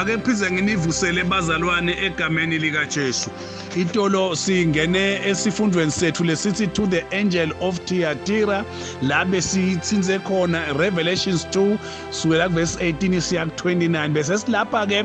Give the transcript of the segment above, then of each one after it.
ake phinde nginivusele bazalwane egameni likaJesu itolo singene esifundweni sethu lesithi to the angel of Thyatira la besithinze khona Revelations 2 sukela kuverse 18 siya ku 29 bese silapha ke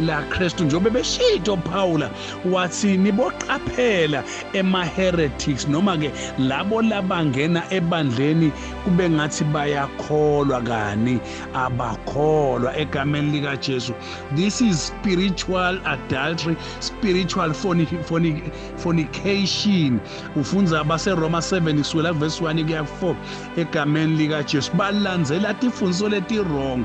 la Kristu njengoba beshito Paula wathi niboqaphela ema heretics noma ke labo labangena ebandleni kube ngathi bayakholwa kani abakholwa egameni lika Jesu this is spiritual adultery spiritual fornication ufunza abase Roma 7 kusukela verse 1 kuya 4 egameni lika Jesu balandzela tifundiso leti wrong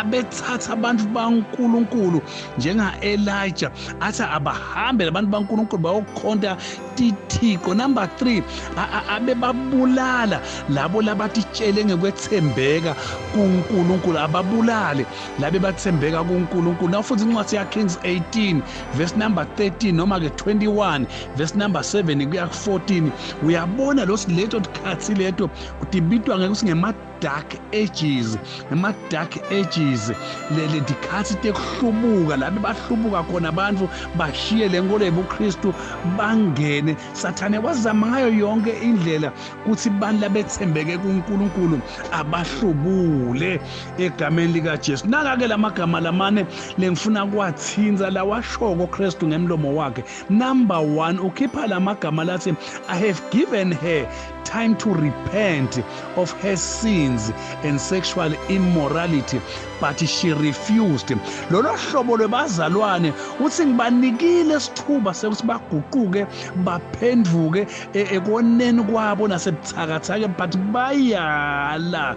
abethatha abantu baNkulunkulu njenga-Elijah athi abahambe labantu baNkulunkulu bayokhonta tithixo number 3 abebabulala labo labatitshele ngekwethembeka kuNkulunkulu ababulale labe bathembeka kuNkulunkulu naw futhi incwadi ya Kings 18 verse number 13 noma ke 21 verse number 7 kuya ku 14 uyabona lo siletho tikhathi leto utibitwa ngeke usingema dark ages ema dark ages lele dikhathi tekuhlubuka labe bahlubuka khona abantu bashiye lenkolo yebuKristu bangene sathane wazama ngayo yonke indlela kuthi abantu labethembeke kuNkulunkulu abahlubule egameni lika Jesu naka ke lamagama lamane lengifuna kwathinza lawashoko Kristu ngemlomo wakhe number 1 ukhipha lamagama lathi i have given her time to repent of her sins and sexual immorality but she refused lolo hlobo lwebazalwane uthi ngibanikile isithuba sekuthi baguquke baphenduke e, ekoneni kwabo nasebuthakathake but bayala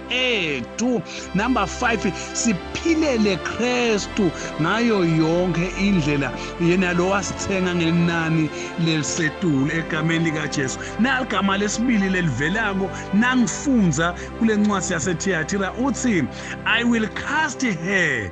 ethu number 5 siphilele Kristu ngayo yonke indlela yena lo wasithenga ngenani lelisetulu egameni lika Jesu naligama lesibili lelivelako nangifunza kulencwadi yaseThiatira uthi i will cast her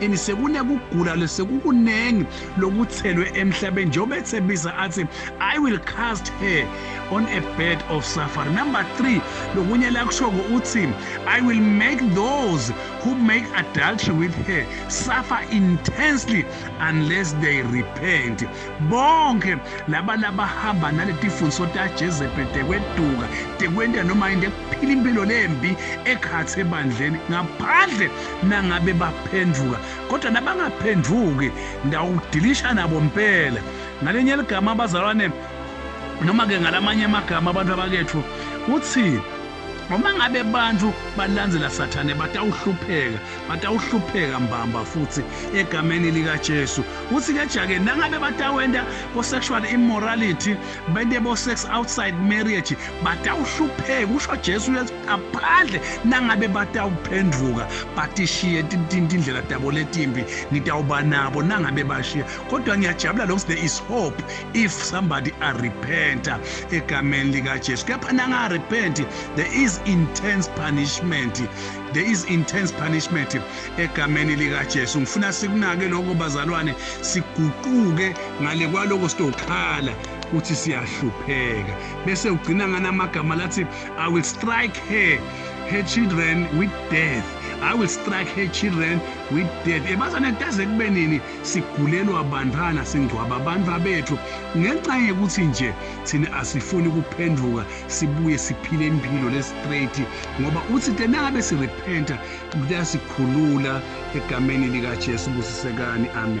and sekunekugula lesekukuningi lokuthelwe emhlabeni njengoba ethembisa athi i will cast her on a bed of safari number three lokunye lakushoko uthi i will make those who make adultery with her suffer intensely unless they repent bonke laba labahamba naletifundiso tajezebhe tekweduka tekwenta noma into ekuphila impilo lembi ekhathe ebandleni ngaphandle nangabe baphendvuka kodwa nabangaphendvuki ngitawudilisha nabo mpela ngalenye ligama abazalwane noma ke ngalamanye amagama abantu abakethu uthi uma ngabe abantu balandzela sathane batawuhlupheka batawuhlupheka mbamba futhi egameni likaJesu uthi ke jake nangabe batawenda bo sexual immorality bende bo sex outside marriage batawuhlupheka usho Jesu ngaphandle nangabe batawuphendvuka batishiye tindlela tabo letimbi ngitawuba nabo nangabe bashiya kodwa ngiyajabula lokuthi there is hope if somebody arepenta egameni likajesu kepha nangarepenti there is intense punishment there is intense punishment egameni likajesu ngifuna sikunake lokho bazalwane siguquke ngale kwaloko sitokhala ukuthi siyahlupheka bese ugcina nganamagama lathi I will strike her, her children with death. I will strike her children with death. Ebazane taze kube nini sigulelwa bantwana singcwaba abantu abethu ngenxa yokuthi nje thina asifuni kuphenduka sibuye siphile impilo le straight ngoba uthi tenangabe si repenta kuyasikhulula egameni lika Jesu busisekani amen.